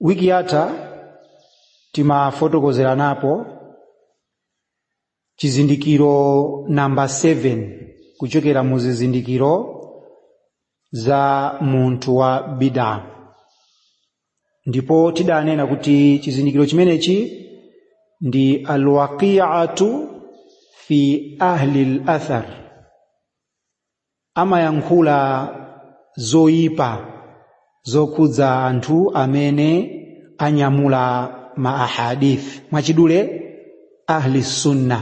wiki yatha timafotokozeranapo chizindikiro namba 7 kuchokera mu zizindikiro za munthu wa bida ndipo tidanena kuti chizindikiro chimenechi ndi alwaqiatu fi ahli lathar amayankhula zoyipa zokhudza anthu amene anyamula ma ahadith mwachidule ahli sunna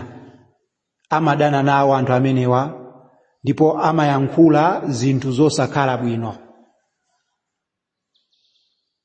amadana nawo anthu amenewa ndipo amayankhula zinthu zosakhala bwino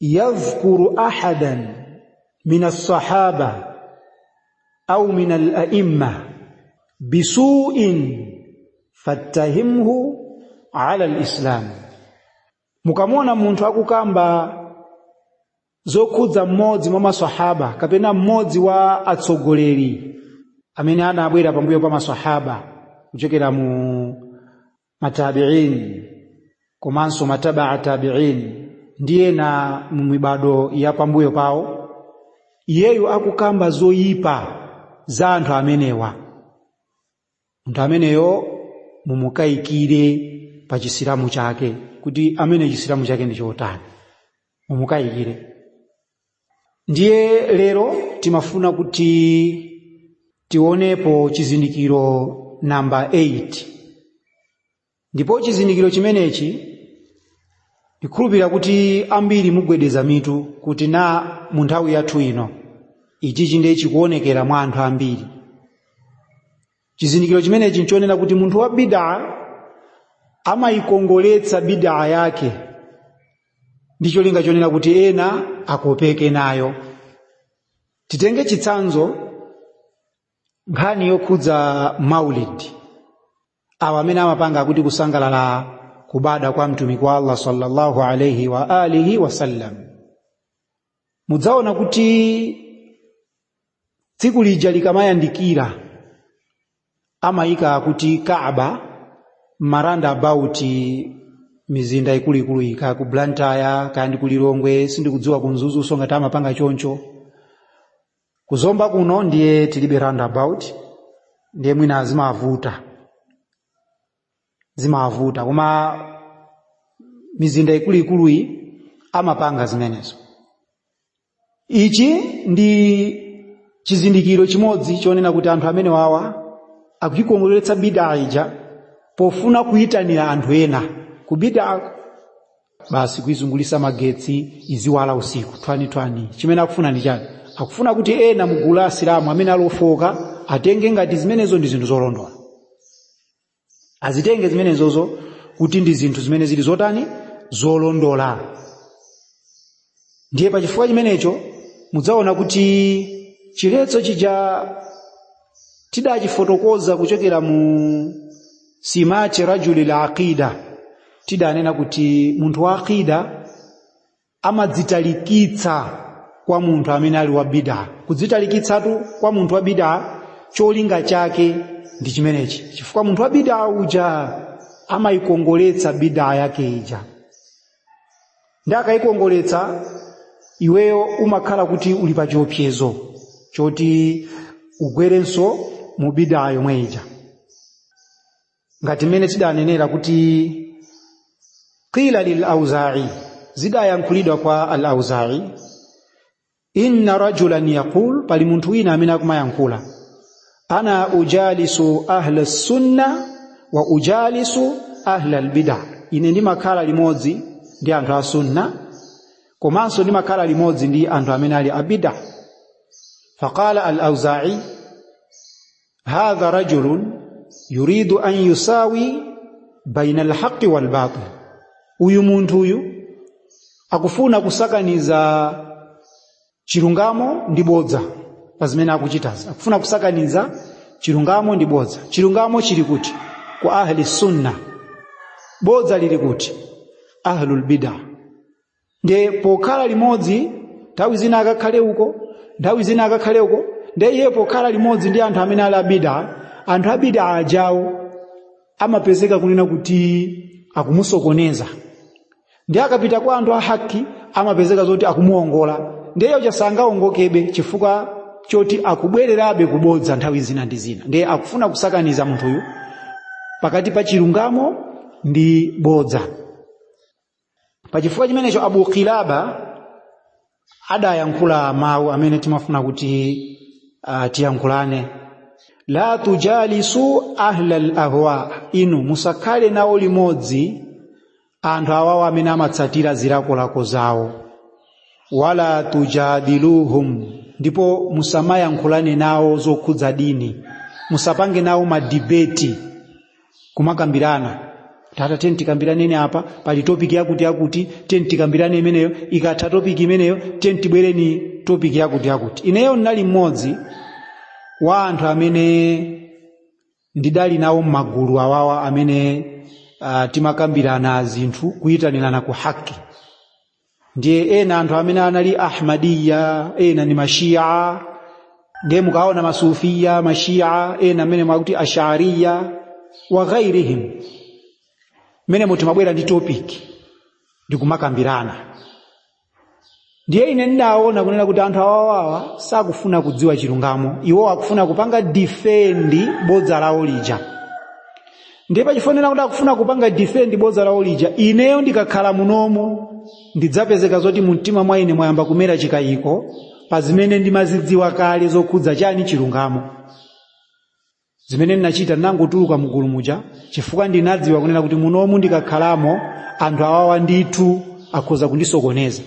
yadhkuru ahadan min alsahaba au min alaimma bisuin fattahimhu ala lislam mukamuona munthu akukamba zokhudza mmodzi mwa masahaba kapena mmodzi wa atsogoleri amene anabwera pambuyo pa masahaba kuchokera mu matabiin komanso matabaa tabiin ndi ena mu mibado ya pambuyo pawo iyeyo akukamba zoyipa za anthu amenewa munthu ameneyo mumukayikire pa chisilamu chake kuti amene chisilamu chake ndi chotani mumukayikire ndiye lero timafuna kuti tionepo chizindikiro namba 8 ndipo chizindikiro chimenechi ndikhulupirira kuti ambiri mugwedeza mitu kuti na mu nthawi yathu ino ichichi ndiye chikuonekera mwa anthu ambiri chizindikiro chimenechi nchonena kuti munthu wa bidaa amayikongoletsa bidaa yake ndi cholinga chonena kuti ena akopeke nayo titenge chitsanzo nkhani yokhudza maulid awa amene amapanga akuti kusangalala kubada kwa mtumiki wa allah sallallahu alaihi wa alihi wasallam mudzaona kuti tsiku lija likamayandikira amayika kuti kaaba ma roundabout mizinda ikuluikulu kaya ku blantyre kaya ndi ku lilongwe sindikudziwa ku mzuzunso ngati amapanga choncho ku zomba kuno ndiye tilibe roundabout ndiye mwina zimavuta zimavuta koma mizinda ikuluikuluyi amapanga zimenezo ichi ndi chizindikiro chimodzi choonena kuti anthu amene wawa akuikongoletsa bidaa ija pofuna kuyitanira anthu ena ku bidaa basi kuizungulisa magetsi iziwala usiku twani-twani chimene akufuna ndi chani akufuna kuti ena mugulu la asilamu amene alofoka atenge ngati zimenezo ndi zinthu zolondola azitenge zimenezozo kuti ndi zinthu zimene zili zotani zolondola ndiye pa chifukwa chimenecho mudzaona kuti chiletso chija tidachifotokoza kuchokera mu simati rajuli al aqida tidanena kuti munthu wa aqida amadzitalikitsa kwa munthu amene ali wa bidaa kudzitalikitsatu kwa munthu wa bidaa cholinga chake ndi chimenechi chifukwa munthu wa bidaa uja amayikongoletsa bidaa yake ija nde akayikongoletsa iweyo umakhala kuti uli pa chiopsezo choti ugwerenso mu bidaa yomwe ija ngati mmene tidanenera kuti qila lil auza'i zidayankhulidwa kwa al auza'i inna rajulan yaqul pali munthu wina amene akumayankhula ana ujalisu ahla sunna wa ujalisu ahla albidaa ine ndimakhala limodzi ndi anthu a sunna komanso ndimakhala limodzi ndi anthu amene ali a bidaa faqala al auza'i hadha rajulun yuridu an yusawi baina alhaqqi walbatil uyu munthu uyu akufuna kusakaniza chilungamo ndi bodza pa zimene akuchitazi akufuna kusakaniza chilungamo ndi bodza chilungamo chili kuti kwa ahli sunna bodza lili kuti ahlul bid'ah nde pokhala limodzi nthawi zina akakhale uko nthawi zina akakhale uko nde iye pokhala limodzi ndi anthu amene ali a bidaa anthu a bidaa ajawo amapezeka kunena kuti akumusokoneza nde akapita kwa anthu a haqi amapezeka zoti akumuongola nde iyeyo sangaongokebe chifukwa choti akubwererabe kubodza nthawi zina ndi zina ndiye akufuna kusakaniza munthuyu pakati pa chilungamo ndi bodza pachifukwa chimenecho abu qilaba adayankhula mawu amene timafuna kuti uh, tiyankhulane la tujalisu ahlal ahwa inu musakhale nawo limodzi anthu awawo amene amatsatira zilakolako zawo wala tujadiluhum ndipo musamayankhulane nawo zokhudza dini musapange nawo madibeti kumakambirana tatiyeni tikambiraneni apa pali topiki yakuti yakuti tiyeni tikambirane imeneyo ikatha topiki imeneyo tiyeni tibwereni topiki yakuti yakuti ineyo ndinali mmodzi wa anthu amene ndidali nawo m'magulu awawa amene uh, timakambirana zinthu kuyitanirana ku haki ndiye ena anthu amene anali ahmadiya ena ndi mashiya ndiye mukaona masufiya mashiya ena amene mwakuti ashariya wa ghairihim mmene muti mwabwera ndi topic ndikumakambirana ndiye ine ndidaona kunena kuti anthu awawawa sakufuna kudziwa chilungamo iwo akufuna kupanga defend bodza lawo lija ndiye pachifukwa choti akufuna kupanga defend bodza lawo lija ineyo ndikakhala munomu ndidzapezeka zoti mu mtima mwa ine mwayamba kumera chikayiko pa zimene ndimazidziwa kale zokhudza chani chilungamo zimene ndinachita ndinangotuluka mgulu muja chifukwa ndinadziwa kunena kuti munomu ndikakhalamo anthu awawa ndithu akhoza kundisokoneza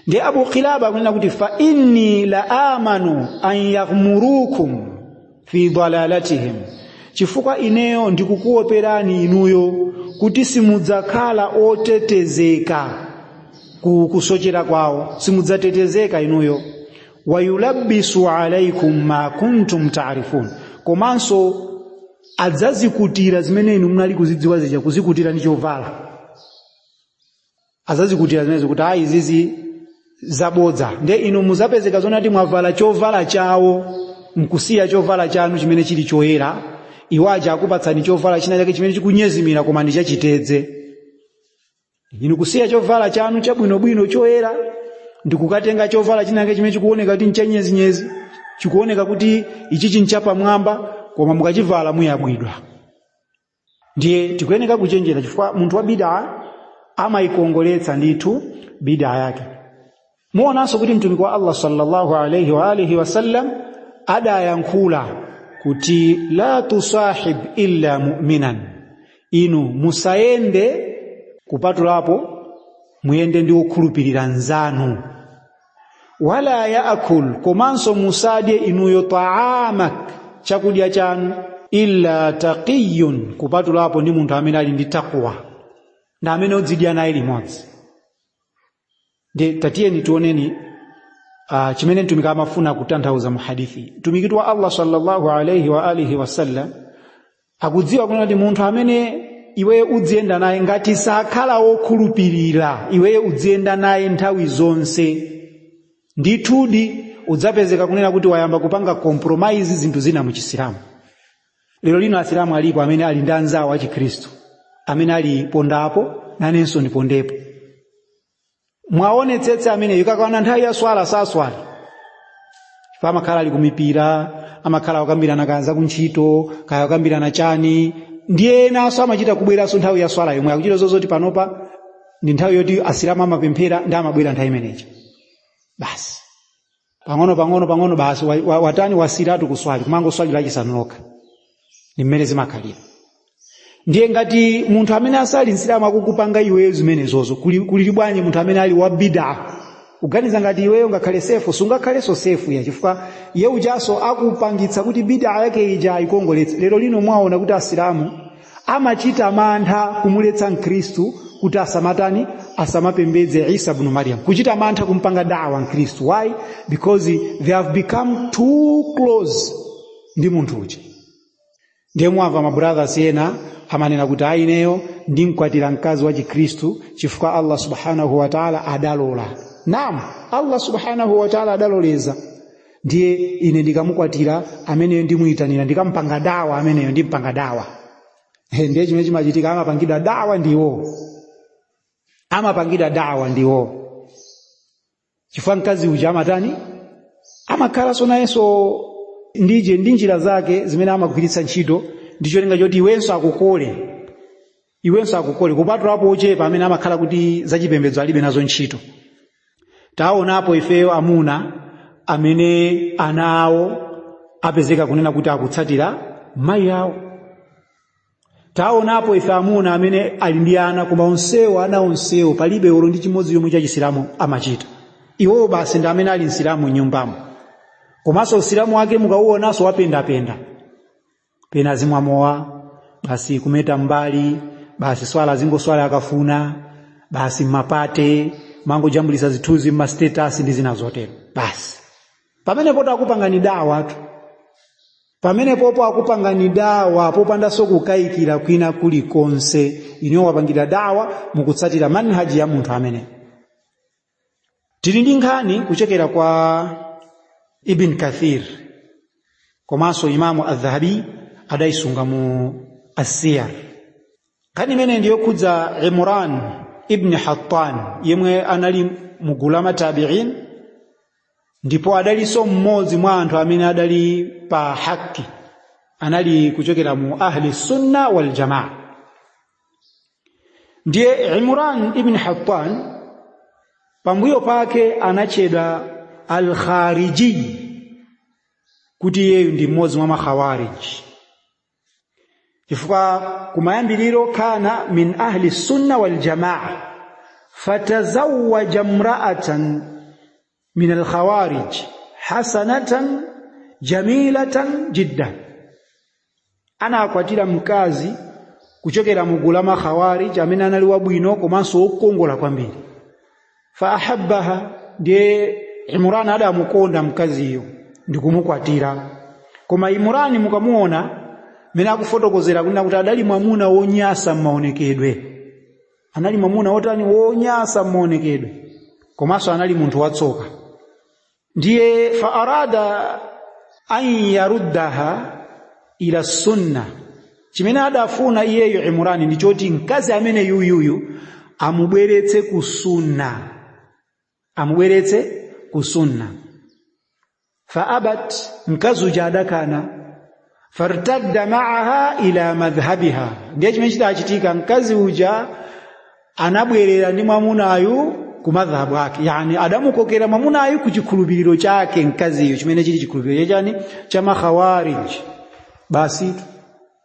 ndiye abu kilaba akunena kuti fa inni la amanu an yaghmurukum fi dalalatihim chifukwa ineyo ndikukuoperani inuyo kuti simudzakhala otetezeka ku kusochera kwawo simudzatetezeka inuyo wayulabbisu alaikum ma kuntum taarifun komanso adzazikutira zimene inu munali kuzidziwa zija kuzikutira ndi chovala adzazikutira zimenezo kuti ayi izizi zabodza ndiye inu muzapezeka zonati mwavala chovala chawo mkusiya chovala chanu chimene chili choyera iwo aja akupatsani chovala china chake chimene chikunyezimira koma ndi chachitedze inu kusiya chovala chanu chabwinobwino choyera ndikukatenga chovala china chake chimene chikuoneka kuti nchanyezinyezi chikuoneka kuti ichichi nchapamwamba koma mukachivala muyabwidwa ndiye tikuyeneka kuchenjera chifukwa munthu wa bidaa amayikongoletsa ndithu bidaa yake muonanso kuti mtumiki wa allah sallallahu alaihi wa alihi wasallam adayankhula kuti la tusahib illa mu'minan inu musayende kupatulapo muyende ndi wokhulupirira mnzanu wala yaakul komanso musadye inuyo taamak chakudya chanu illa taqiyun kupatulapo ndi munthu amene ali ndi takwa ndi amene udzidya naye limodzi ndiye tatiyeni tioneni uh, chimene mtumiki amafuna kutanthauza mu hadithi mtumikitu wa allah sallallahu alaihi wa alihi wasallam akudziwa kunena kuti munthu amene iweyo udziyenda naye ngati sakhala wokhulupirira iweyo udziyenda naye nthawi zonse ndithudi udzapezeka kunena kuti wayamba kupanga compromise zinthu zina mu chisilamu lero lino asilamu alipo amene ali ndi anzawo achikhristu amene ali pondapo nanenso ndipondepo mwaonetsetse amene ikakwana nthawi ya swala saswali chifukwa amakhala ali kumipira amakhala akukambirana kaya za kuntchito kaya akukambirana chani ndiye enaso amachita kubweranso nthawi ya swala yomwe akuchita zozoti panopa ndi nthawi yoti asilamu amapemphera ndi amabwera nthawi imeneyi basi pang'ono pang'ono pang'ono basi wa- wa- watani wasiratu kuswali kumangoswali lachisanu lokha ndi mmene zimakhalira ndiye ngati munthu amene asali msilamu akukupanga iweyo zimenezozo kuli kuli bwanji munthu amene ali wa bida uganiza ngati iweyo ungakhale safe sungakhaleso safe ya chifukwa iye ujaso akupangitsa kuti bida yake ija ikongoletse lero lino mwaona kuti asilamu amachita mantha kumuletsa mkhristu kuti asamatani asamapembedze isa bnu mariam kuchita mantha kumpanga daawa mkhristu why because they have become too close ndi munthu uja ndiye mwamva mabrothers ena amanena kuti ayi ineyo ndimkwatira mkazi wa chikhristu chifukwa allah subhanahu wataala adalola naam allah subhanahu wataala adaloleza ndiye ine ndikamukwatira ameneyo ndimuyitanira ndikampanga dawa ameneyo ndimpanga dawa ndiye chimene chimachitika amapangidwa dawa ndiwo amapangidwa dawa ndiwo chifukwa mkazi uja amatani amakhalaso nayenso ndije ndi njira zake zimene amagwiritsa ntchito ndi cholinga choti iwenso akukole iwenso akukole kupatulapo ochepa amene amakhala kuti zachipembedzo alibe nazo ntchito taonapo ifeyo amuna amene ana awo apezeka kunena kuti akutsatira mayi awo taonapo ife amuna amene ali ndi ana koma onsewo ana onsewo palibe olo ndi chimodzi chomwe chachisilamu amachita iwowo basi ndi amene ali msilamu mnyumbamo komanso usilamu wake mukauonanso wapendapenda pena azimwa mowa basi kumeta mbali basi swala azingoswali akafuna basi mmapate kumangojambulisa zithunzi mmastatus ndi zina zotero basi pamenepotu akupangani dawatu pamenepopo akupangani dawa popandaso kukayikira kwina kulikonse inuyo akupangani dawa mukutsatira manhaji ya munthu amene tili ndi nkhani kuchokera kwa ibn kathir komanso imamu adhahabi adayisunga mu asiyar nkhani imene ndiyokhudza imran ibni hattan yemwe anali mugulu la matabiin ndipo adalinso mmodzi mwa anthu amene adali pa haki anali kuchokera mu ahli sunna waljamaa ndiye imran ibn hattan pambuyo pake anatchedwa alkhariji kuti iyeyu ndi mmodzi mwa makhawariji chifukwa kumayambiriro kana min ahli sunna waljamaa fatazawaja imraatan min alkhawarij hasanatan jamilatan jiddan anakwatira mkazi kuchokera mu gulu la makhawarij amene anali wabwino komanso wokongola kwambiri fa ahabbaha ndiye imurani adamukonda mkaziyo ndikumukwatira koma imurani mukamuona mene akufotokozera kunena kuti adali mwamuna wonyasa m'maonekedwe anali mwamuna wotani wonyasa mmaonekedwe komanso anali munthu watsoka ndiye fa arada an yaruddaha ila sunna chimene adafuna iyeyu imurani ndi choti mkazi amene yuyuyu amubweretse ku sunna amubweretse ku sunna fa abat mkazi uja adakana fartadda maaha ila madhhabiha ndiye chimene chidachitika mkazi uja anabwerera ndi mwamunayu ku madhhabu ake yani adamukokera mwamunayu ku chikhulupiriro chake mkaziyo chimene chili chikhulupiriro chachani cha makhawarij basi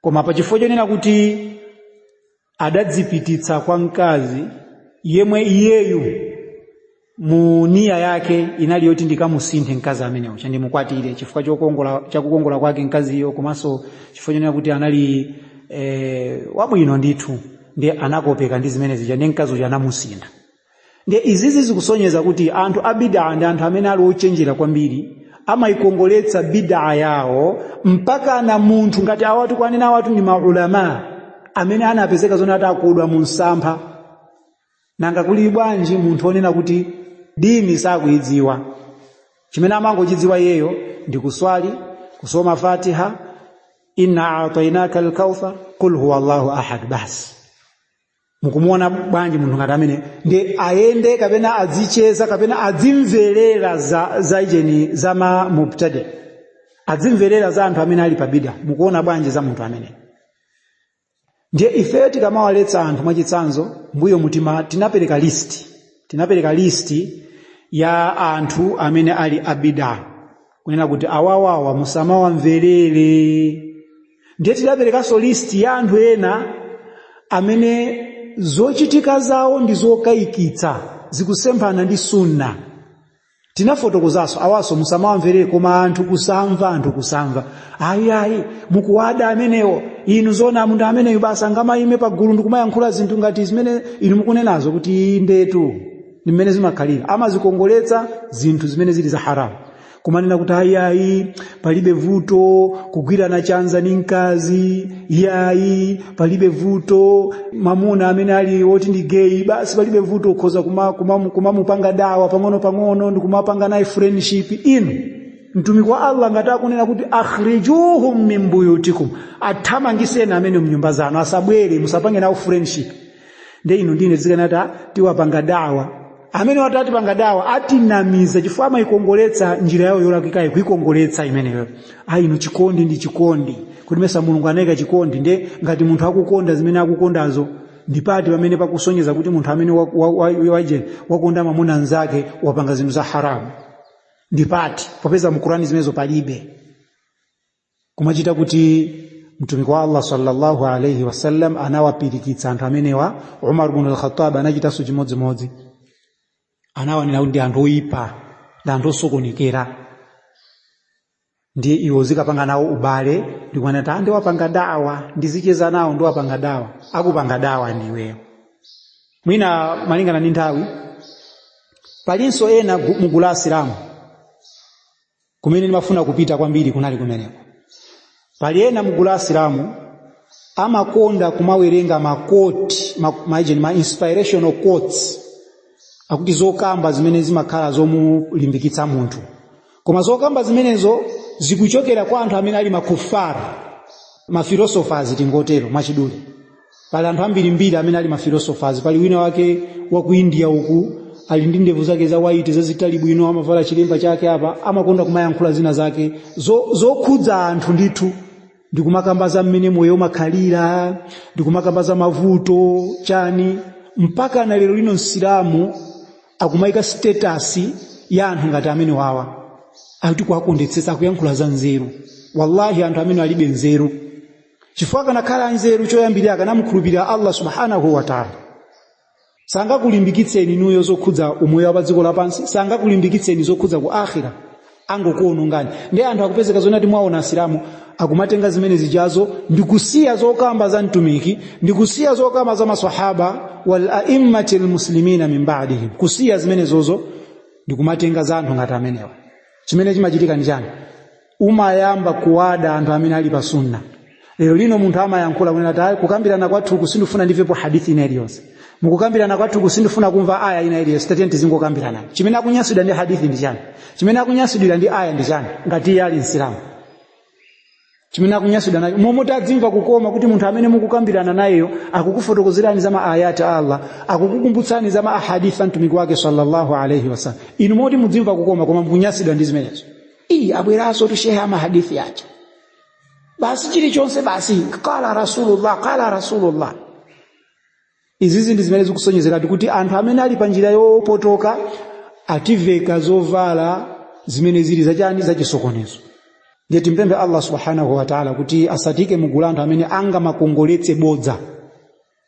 koma pa chifukwa chonena kuti adadzipititsa kwa mkazi yemwe iyeyu mu niya yake inali yoti ndikamusinthe mkazi ameneyo chandimukwatire chifukwa chakukongola kwake mkaziyo komanso chifukwa chonena kuti anali e, wabwino ndithu ndiye anakopeka ndi zimene zija ndiye mkazi uja anamusintha ndiye izizi zikusonyeza kuti anthu a bidaa ndi anthu amene ali ochenjera kwambiri amayikongoletsa bidaa yawo mpakana munthu ngati awatu kwanena awatu ndi maulama amene anapezeka zona atakodwa mu msampha nanga kuli bwanji munthu onena kuti dini sakuyidziwa chimene amangochidziwa iyeyo ndi kuswali kusoma fatiha inna atainaka alkauthar qul huwa allahu ahad basi mukumuona bwanji munthu ngati ameneyu ndiye ayende kapena adzicheza kapena adzimverera za, za ujeni za ma mubtadi azimvera za anthu amene ali pa bida mukuona bwanji za munthu ameneyu ndiye ifeyo tikamawaletsa anthu mwachitsanzo mbuyomutu ife tinapereka listi tinapereka listi ya anthu amene ali abida kunena kuti awawawa musamawamverere ndiye tidaperekanso listi ya anthu ena amene zochitika zawo ndi zokayikitsa zikusemphana ndi sunna tinafotokozanso awanso musamawamverere koma anthu kusamva anthu kusamva ayi ayi mukuwada amenewo inu zoona munthu ameneyu basi angamayime pagulu ndikumayankhula zinthu ngati zimene inu mukunenazo kuti indetu ndi mmene zimakhalira amazikongoletsa zinthu zimene zili za haramu kumanena kuti ayi ayi palibe vuto kugwirana chanza ndi mkazi iyayi palibe vuto mamuna amene ali woti ndi geyi basi palibe vuto ukhoza kumamupanga kuma, kuma kumamupanga dawa pang'ono pang'ono ndi kumapanga naye friendship inu mtumiki wa allah ngati akunena kuti akhrijuhum min buyutikum athamangitseni amenewo mnyumba zanu asabwere musapange nawo friendship nde inu ndiye muzikanati "Ah, tiwapanga dawa amenewa ati atipanga dawa atinamiza chifukwa amayikongoletsa njira yawo yolakwikayi kuyikongoletsa imeneyo ayi inu chikondi ndi chikondi kuti mesa mulungu anayika chikondi nde ngati munthu akukonda zimene akukondazo ndipati pamene pakusonyeza kuti munthu amene wa- wa- wa- waje wakonda mamuna nzake wapanga zinthu za haramu ndipati popeza mu Qur'ani zimenezo palibe kumachita kuti mtumiki wa allah sallallahu alaihi wasallam anawapirikitsa anthu amenewa umar bnu alkhatab anachitanso chimodzimodzi anawanena kuti ndi anthu oyipa ndi anthu osokonekera ndiye iwe uzikapanga nawo ubale ndikuona kuti ayi ndiwapanga dawa ndizicheza nawo ndiwapanga dawa akakupanga dawa ndiweyo mwina malingana ndi nthawi palinso ena gu- mu gulu la asilamu kumene ndimafuna kupita kwambiri kunali kumeneko pali ena mgulu la asilamu amakonda kumawerenga makoti ma, ma, ma inspirational quotes akuti zokamba zimene zimakhala zomulimbikitsa munthu koma zokamba zimenezo zikuchokera kwa anthu amene ali ma kuffar mafilosofers tingotero mwachidule pali anthu ambirimbiri amene ali mafilosofazi pali wina wake wa ku india uku ali ndi ndevu zake za waiti zazitali bwino amavala chilemba chake apa amakonda kumayankhula zina zake zo- zokhudza anthu ndithu ndikumakamba za mmene moyo umakhalira ndikumakamba za mavuto chani mpaka na lero lino asilamu akumayika status ya anthu ngati amenewawa akuti kuwakondetsetsa akuyankhula za nzeru wallahi anthu amene alibe nzeru chifukwa akanakhala anzeru choyambirira akanamukhulupirira allah subhanahu wataala sangakulimbikitseni inuyo zokhudza umoyo wa padziko lapansi sangakulimbikitseni zokhudza ku akhira angokuonongani nde anthu akupezeka zoti ati mwaona asilamu akumatenga zimene zijazo ndi kusiya zokamba za mtumiki ndi kusiya zokamba za masahaba wal aimmati lmuslimina min badihim kusiya zimenezozo ndi kumatenga za anthu ngati amenewa chimene chimachitika ndi chani umayamba kuwada anthu amene ali pa sunna lero lino munthu amayankhula kunena kuti "Ayi, kukambirana kwathuku sindifuna ndimvepo hadithi ina iliyonse mukukambirana kwathuku sindifuna kumva aya ina iliyonse tatiyeni tizingokambirana chimene akunyansidwa ndi hadithi ndi chani chimene akunyansidwira ndi aya ndi chani ngati iye ali msilamu chimene akunyansidwa nacho mmalo moti adzimva kukoma kuti munthu amene mukukambirana nayeyo akukufotokozerani za maayati a allah akukukumbutsani za maahadithi a mtumiki wake sallallahu alaihi wasallam mmalo moti mudzimva kukoma koma mukunyansidwa ndi zimenezo iyi abweransotu shehe a mahadithi aja basi chilichonse basi qala rasulullah qala rasulullah izizi ndi zimene zikusonyezeratu kuti anthu amene ali pa njira yopotoka ativeka zovala zimene zili zachani zachisokonezo ndiye timpembe allah subhanahu wataala kuti asatiike mugulu anthu amene angamakongoletse bodza